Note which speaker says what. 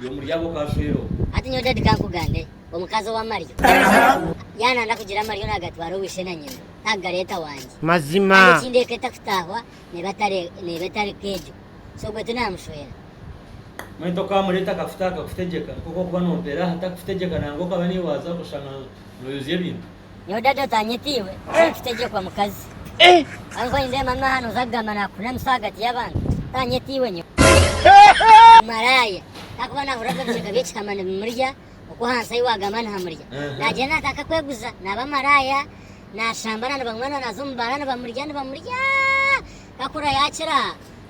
Speaker 1: Gwe muri abo okashwera ogu. Hati nyowe daddy
Speaker 2: kankugambe omukazi owamaryo yananda kugira amaryo nagatwara ow'ishe na nyina takugareta wangye Mazima. Kandi ekindi
Speaker 3: eka etakutahwa
Speaker 2: neba etari neba etari nk'egyo so gwe tinamushwera. Mwene
Speaker 1: tokamureta akakutaha akakutegyeka nk'oku okuba nompera aha takukutegyeka nangwa okaba newaaza oshanga noyozya ebintu. Nyowe dadi otanyeta
Speaker 2: iwe tinkitegyekwa mukazi Kandi ku nindeeba mami aha noza kugamba nakunamisa ahagati yabantu tanyeta iwe nyowe Omumaraaya ahakuba nahurira ngu ebicweka byekihama nibimurya okwo ahansi ahi wagamba nihamurya nagyenda natandika kweguza naba maraaya nashambana nibanywa naza omu baara nibamurya nibamurya kakura yakira